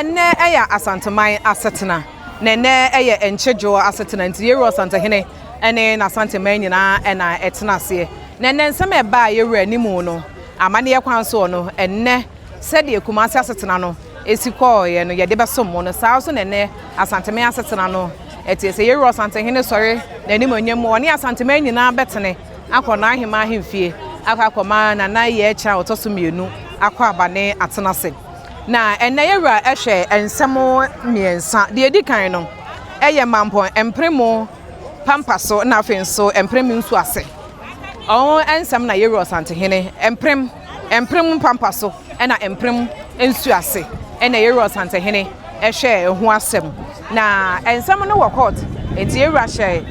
Ɛnnɛ ɛyɛ Asanteman asetena na ɛnnɛ ɛyɛ Nkye Dwoɔ asetena nti Yɛwura Ɔsantehene ne N'Asanteman nyinaa na ɛtena aseɛ na ɛnnɛ nsɛm a ɛbaa Yɛwura anim no amanneɛ kwan soɔ no ɛnnɛ sɛdeɛ Kumase asetena no si kɔɔeɛ no yɛde bɛsom mo no saa ara nso na ɛnnɛ Asanteman asetena no teɛ sɛ Yɛwura Ɔsantehene sɔre n'animuonyam mu ɔne Asanteman nyinaa bɛtene akɔ n'aheman ahemfie akɔ akɔma Nana Yɛkyerɛ a ɔtɔ so mmienu akɔ abane atena ase. Na ɛnnɛ yɛ wura hwɛ nsɛm mmiɛnsa. Deɛ ɛdi kan no, ɛyɛ mampɔn mpere mu pampa so na afei nso mpere mu nsu ase. Ɔho nsɛm na yɛ wura Ɔsantehene mpere mu, mpere mu pampa so na mpere mu nsu ase. Ɛna yɛ wura Ɔsantehene ɛhwɛ ɛho asɛm. Na nsɛm no wɔ kɔɔt, nti yɛ wura hyɛ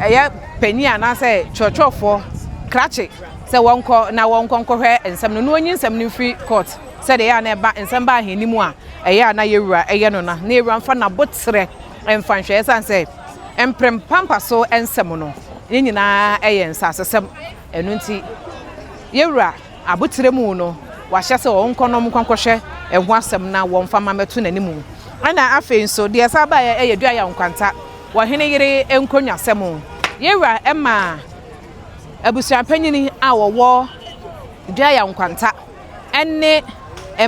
ɛyɛ panin anaasɛ twerɛtwerɛfoɔ krakye. Sɛ wɔnkɔ na wɔnkɔ nkɔhwɛ nsɛm no na onyi nsɛm no mfiri court sɛdeɛ ɛyɛ a na ɛba nsɛm ba ahennimu a ɛyɛ a na yɛwura yɛ no na na yɛwura mfa naboterɛ mfa nhwɛ ɛsiane sɛ mprem pampaso nsɛm no ne nyinaa yɛ nsasesɛm ɛno nti yɛwura aboterɛmu no wahyɛ sɛ wɔnkɔ na wɔnkɔ nkɔhwɛ ɛho asɛm na wɔmfa mma mɛto n'animu ɛna afei nso deɛ ɛsan baeɛ yɛ Duayaw Nkwanta ɔhene yere nkonnwasɛm yɛwura ɛmaa abusuapanyin a wɔwɔ Dua Yaw Nkwanta ne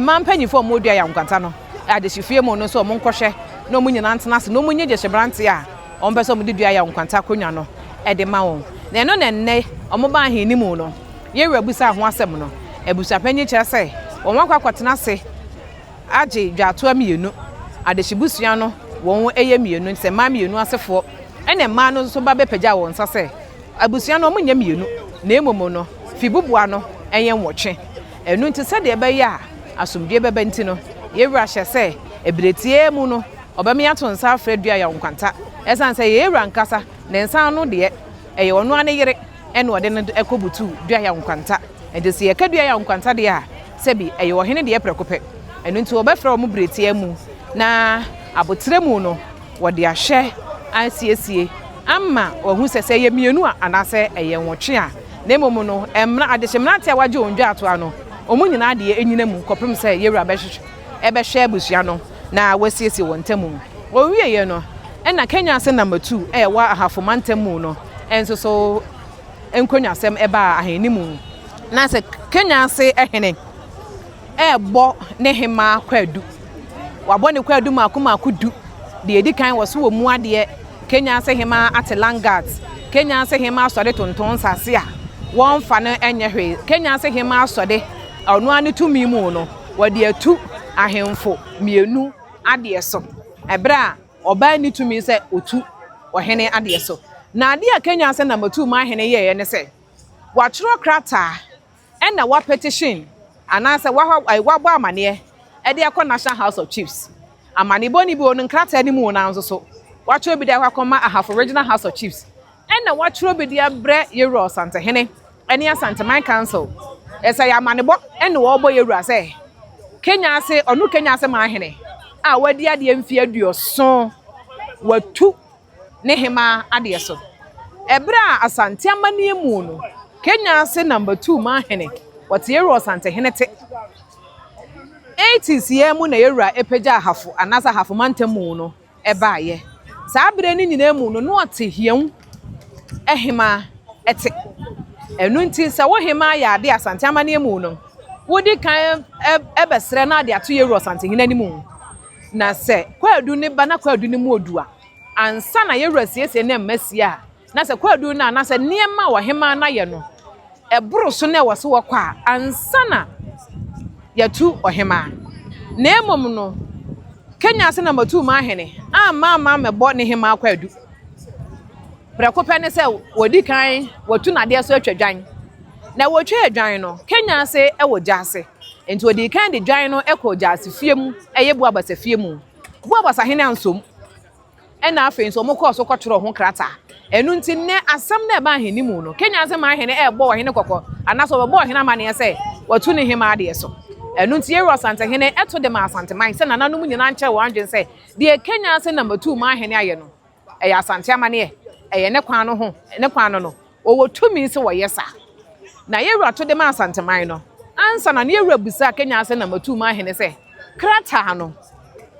mmaa mpanyinfo a wɔwɔ Dua Yaw Nkwanta no adehyefie mu no nso wɔn nkɔhwɛ na wɔn nyinaa ntena ase na wɔn nyɛ gyesɛ berante a wɔn pɛ sɛ wɔn de Dua Yaw Nkwanta akonnwa no de ma wɔn na ɛno na nnɛ wɔn baa ahenni mu no yɛrɛ abusa ho asɛm no abusuapanyin kyerɛ sɛ wɔn akɔ akɔtena ase. agye dwatoa mmienu, adehye busua no wɔn yɛ mmienu nti sɛ mmaa mmienu asefoɔ ɛna mmaa no nso ba bɛpagya wɔn nsa sɛ abusua no wɔn nyɛ mmienu na emom no fibuboa no ɛyɛ nwɔtwe ɛno nti sɛdeɛ ɛbɛyɛ a asomdwie bɛba nti no yɛwura hyɛ sɛ ɛbireteɛ mu no ɔbɛme ato nsa afrɛ dua yaw nkwanta ɛsan sɛ yɛwura nkasa ne nsa ano deɛ ɛyɛ ɔno ane yere ɛna ɔde no ɛkɔ butu dua yaw nkwanta ɛnti sɛ yɛka dua yaw nkwanta deɛ a Sɛ bi, ɛyɛ ɔhene deɛ prɛko pɛ. Ɛno nti wɔbɛfrɛ wɔn biretia mu, na aboterɛ mu no wɔde ahwɛ asiesie ama wɔahu sɛ, sɛ ɛyɛ mmienu a anaasɛ ɛyɛ nwɔtwe a. Na mmom no, mmra, adehye mmeranteɛ a wɔagye wɔn dwaatoa no, wɔn nyinaa deɛ nnyina mu kɔpem sɛ Yewura bɛhwehwɛ, bɛhwɛ abusua no na wasiesie wɔn ntam mu. Wɔwieeɛ no, ɛna Kenya Ase Number Two a ɛwɔ Ahafo Mantam mu no nso so nkonnwasɛm baa ahenni mu. Ná sɛ Kenya ase hene rebɔ ne hemmaa kwaadu, wabɔ ne kwaadu mmaako mmaako du. Deɛ edi kan wɔ so wɔ mu adeɛ, Kenya ase hemmaa ate Langat. Kenya ase hemmaa sɔde tonton nsase a wɔmfa no nyɛ hwee. Kenya ase hemmaa sɔde a ɔno ara ne tumi mu no, wɔde atu ahemfo mmienu adeɛ so. Bere a Ɔbaa nni tumi sɛ ɔtu ɔhene adeɛ so. Na adeɛ a ɛkanyan sɛ na matuu m'ahene yɛeɛ ne sɛ, wɔatwerɛ krataa ɛna wɔapetition anaasɛ wɔabɔ amaneɛ de akɔ National House of Chiefs. Amanebɔ no bi wɔ no nkrataa no mu wɔ nanso so wɔatwerɛ bi de akɔ akɔma Ahafo Regional House of Chiefs Ɛna wɔatwerɛ bi de abrɛ Yawura Ɔsantehene ne Asanteman Council sɛ ɛyɛ amanebɔ ne wɔrebɔ Yawura sɛ Kenya ase ɔno Kenya ase man hene a wadi adeɛ mfeɛ aduoson watu ne hemaa adeɛ so. Ɛberɛ a Asante amanneɛ mu no Kenya ase number two man hene wɔte Yawura Ɔsantehene te. Eighties yɛ mu na Yawura pagyaa Ahafo anaasɛ Ahafo mantam mu no baeɛ. Saa berɛ no nyinaa mu no, na ɔte Hiɛu hemaa te. Ɛno nti, sɛ wo hemaa yɛ adeɛ Asante amanneɛ mu no, wodi kan bɛsrɛ na ade ato Yawuru Ɔsantehene anim. Na sɛ Kwaadu no ba na Kwaadu no mu odu a, ansa na Yawuru asiesie ne mma sie a, Na sɛ kwaadu no anaasɛ nneɛma a ɔhemmaa no ayɛ no boro so na ɛwɔ sɛ wɔkɔ a, ansa na yɛatu ɔhemmaa. Na mmom no, Kenya ase na matuu m'ahene amma amma ammɛbɔ ne hemmaa kwaadu. Prɛko pɛ ne sɛ wɔdi kan wɔatu n'adeɛ so atwa dwan. Na wɔtwaa dwan no, Kenya ase wɔ gya ase. Enti wɔdii kan de dwan no kɔɔ gya ase fie mu, ɛyɛ Buabasa fie mu. Buabasa hene ansom. Ɛnna afei nso wɔkɔɔ so kɔtwerɛɛ ho krataa. Ɛno nti, nnɛ asɛm no a ɛba ahennimu no, Kenya ase maa hene rebɔ ɔhene kɔkɔ anaasɛ ɔbɛbɔ ɔhene amanneɛ sɛ watu ne hemmaa deɛ so. Ɛno nti, Yerua Asantehene to de maa Asanteman sɛ nananom nyinaa nkyerɛ wɔn adwene sɛ deɛ Kenya ase nam atuu maa hene ayɛ no, ɛyɛ Asante amanneɛ, ɛyɛ ne kwan no ho, ne kwan no no. Wɔwɔ tumi sɛ wɔyɛ saa. Na yɛn wura to de maa Asanteman no. Ansa na ne yɛn wura bisaa Kenya Asenam Atuu-mu ahene sɛ, Krataa no,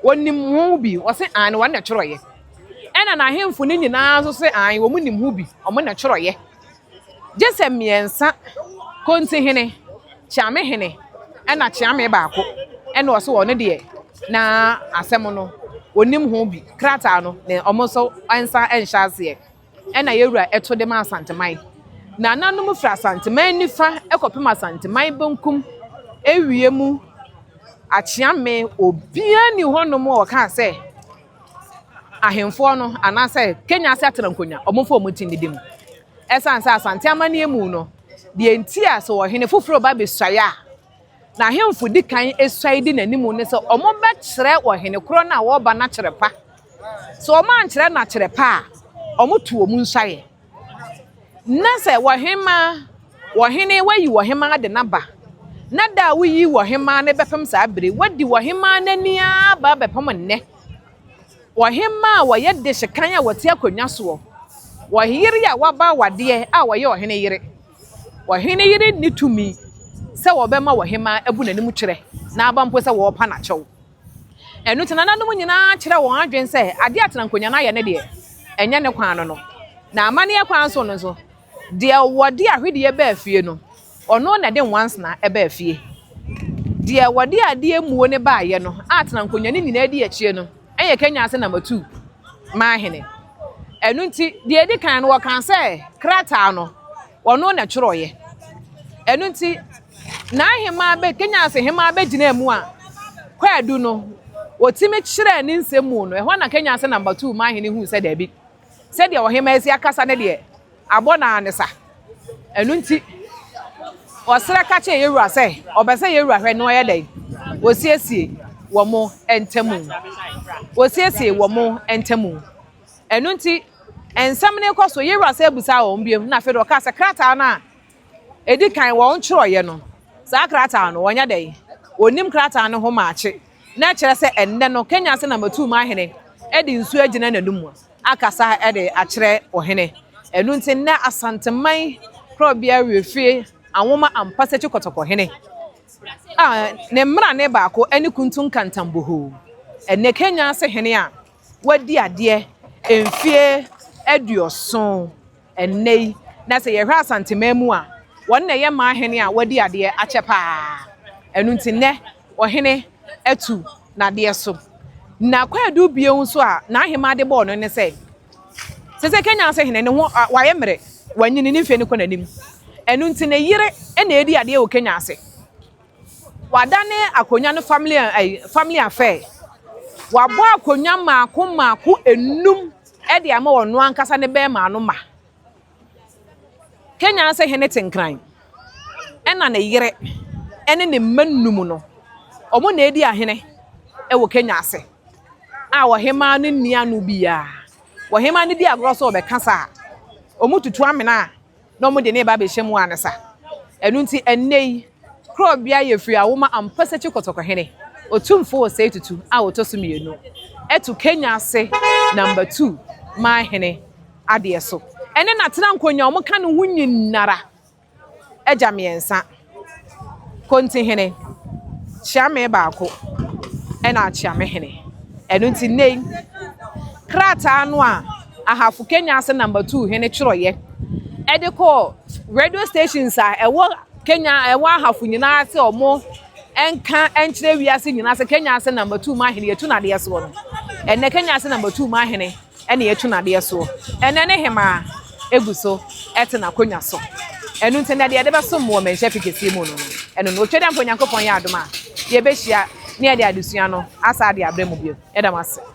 wɔnim ho bi? Wɔse, Aane, wɔn na ɛtwerɛeɛ. Ɛna n'ahemfo no nyinaa nso se, Aane, wɔn nim ho bi, wɔn na ɛtwerɛeɛ. Gye sɛ mmiɛnsa, Kontihene, Kyeamehene, ɛna Kyeame baako, ɛna ɔse wɔn deɛ na asɛm no, wɔnim ho bi. Krataa no, na wɔn nso nsa nhyɛ aseɛ. ɛna yɛ wura ɛto de ma Asanteman. Nananom firi Asanteman nifa ɛkɔpem Asanteman benkum ɛwie mu Akyeame obia ni hɔ nom a ɔkaa sɛ ahenfoɔ no anaa sɛ Kenya ase atena nkonya ɔmo fa ɔmo ti ne dem. Ɛsan sɛ Asante amaneɛ mu no deɛ nti a sɛ ɔhene foforo ba bɛsuaeɛ a Na ahemfo di kan suae di n'anim ne sɛ wɔbɛkyerɛ ɔhene korɔ no a ɔreba no akyerɛ pa. Sɛ wɔankyerɛ no akyerɛ pa a, wɔto wɔn nsuaeɛ. Na sɛ ɔhemaa, ɔhene, wayi ɔhemaa de no aba, na da a woyi ɔhemaa no bɛpem saa bere, wadi ɔhemaa no ani ara ba bɛpem nnɛ. Ɔhemaa a ɔyɛ dehyekan a ɔte akonnwa soɔ, ɔyere a waba awadeɛ a ɔyɛ ɔhene yere. Ɔhene yere nni tumi sɛ ɔbɛma ɔhemmaa abu n'anim kyerɛ na aba mpo sɛ ɔrepa no akyɛw. Ɛno nti, nananom nyinaa kyerɛɛ wɔn adwene sɛ adeɛ a Tenankonyan ayɛ no deɛ, ɛnyɛ ne kwan no no. Na amanneɛ kwan so no nso, deɛ wɔde ahwedeɛ baa fie no, ɔno na ɛde nwansena baa fie. Deɛ wɔde adeɛ mmuo no baeɛ no a Tenankonyan nyinaa di akyire no, Ɛyɛ Kenya ase na matuu m'ahene. Ɛno nti, deɛ ɛdi kan no, wɔkaa sɛ krataa no, ɔno na ɛtwerɛeɛ. Ɛno nti, n'ahemaa bɛ, Kenya ase hemaa bɛgyinaa mu a, kwaadu no, wɔtumi kyerɛɛ ne nsɛm mu no, ɛhɔ na Kenya ase na matuu m'ahene huu sɛ daabi. Sɛdeɛ ɔhemmaa asia kasa no deɛ, abɔ no ara ne sa. Ɛno nti, ɔserɛ ka kyerɛɛ yɛn wura sɛ, ɔpɛ sɛ yɛn wura hwɛ na ɔyɛ dɛn? Ɔsiesie wɔn ntam. Ɔsiesie wɔn ntam. Ɛno nti, nsɛm no rekɔ so, yɛn wura san bisaa wɔn bio, na afei deɛ ɔkaa sɛ, Krataa no a Edi kan, wɔntwerɛeɛ no, saa krataa no, wɔnyɛ dɛn? Wɔnnim krataa no ho maakye. Na ɛkyerɛ sɛ ɛnnɛ no, Kenya ase na matuu m'ahene de nsuo agyina n'anom akasa de akyerɛ ɔhene. Ɛno nti, nnɛ Asanteman Korɔbea Wiefie anwoma ampa sɛ Kyikɔtɔkɔhene a ne mmarane baako ne Kuntu Nkantam Bohoo, ɛnnɛ Kenya ase hene a wadi adeɛ mfeɛ aduɔson Ɛnnɛ yi, na sɛ yɛhwɛ Asanteman mu a, wɔn na ɛyɛ mmaa hene a wɔadi adeɛ akyɛ pa ara. Ɛno nti nnɛ, ɔhene atu n'adeɛ so. Na kwaadu bio nso a n'ahemaa de bɔɔ no ne sɛ, sɛ sɛ Kenya ase hene, ne ho a, wayɛ mmerɛ, wanyini, ne mfeɛ no kɔ n'anim. Ɛno nti ne yere na ɛredi adeɛ wɔ Kenya ase. Wɔadane akonnwa no family ɛyi family affair. Wɔabɔ akonnwa mmaako mmaako nnum de ama ɔno ankasa ne bɛrima no ma. Kenya ase hene te nkran. Ɛna ne yere ɛne ne mma nnum no, wɔn na edi ahene ɛwɔ Kenya ase. A ɔhemaa no nni ano biara. Ɔhemaa no di agorɔ sɛ ɔbɛka saa a, wɔtutu amena a. na wɔde no reba abɛhyɛ mu ansa. Ɛno nti, ɛnnɛ yi, kuro a obiara yɛ firi awo ma Ampasakyi Kɔtɔkɔhene, Otumfo Osei Tutu a ɔtɔ so mmienu, to Kenya ase Number Two ma Hene adeɛ so. Ɛne Natena Nkonya a wɔka ne ho nyinara agya mmiɛnsa. Kontihene, kyea me baako na akyea me hene. Ɛno nti nnɛ yi, krataa no a Ahafo Kenyase Number Two hene twerɛeɛ de kɔɔ radio stations a ɛwɔ Kenya a ɛwɔ Ahafo nyinaa sɛ wɔn nka nkyerɛ wiase nyinaa sɛ Kenyase Number Two Mahene yɛtu no adeɛ soɔ no. Ɛnnɛ Kenyase Number Two Mahene ɛna yɛtu no adeɛ soɔ. Ɛnnɛ ne hemaa gu so te n'akonnwa so. Ɛno nti na deɛ yɛde bɛsom mo wɔ mmɛnhyɛ afe kɛseɛ mu no no, ɛno no. Otwa dɛ mpo Onyankopɔn yɛ adom a, yɛbɛhyia na yɛde adesua no asan de abrɛ mo bio. Yɛda mo ase.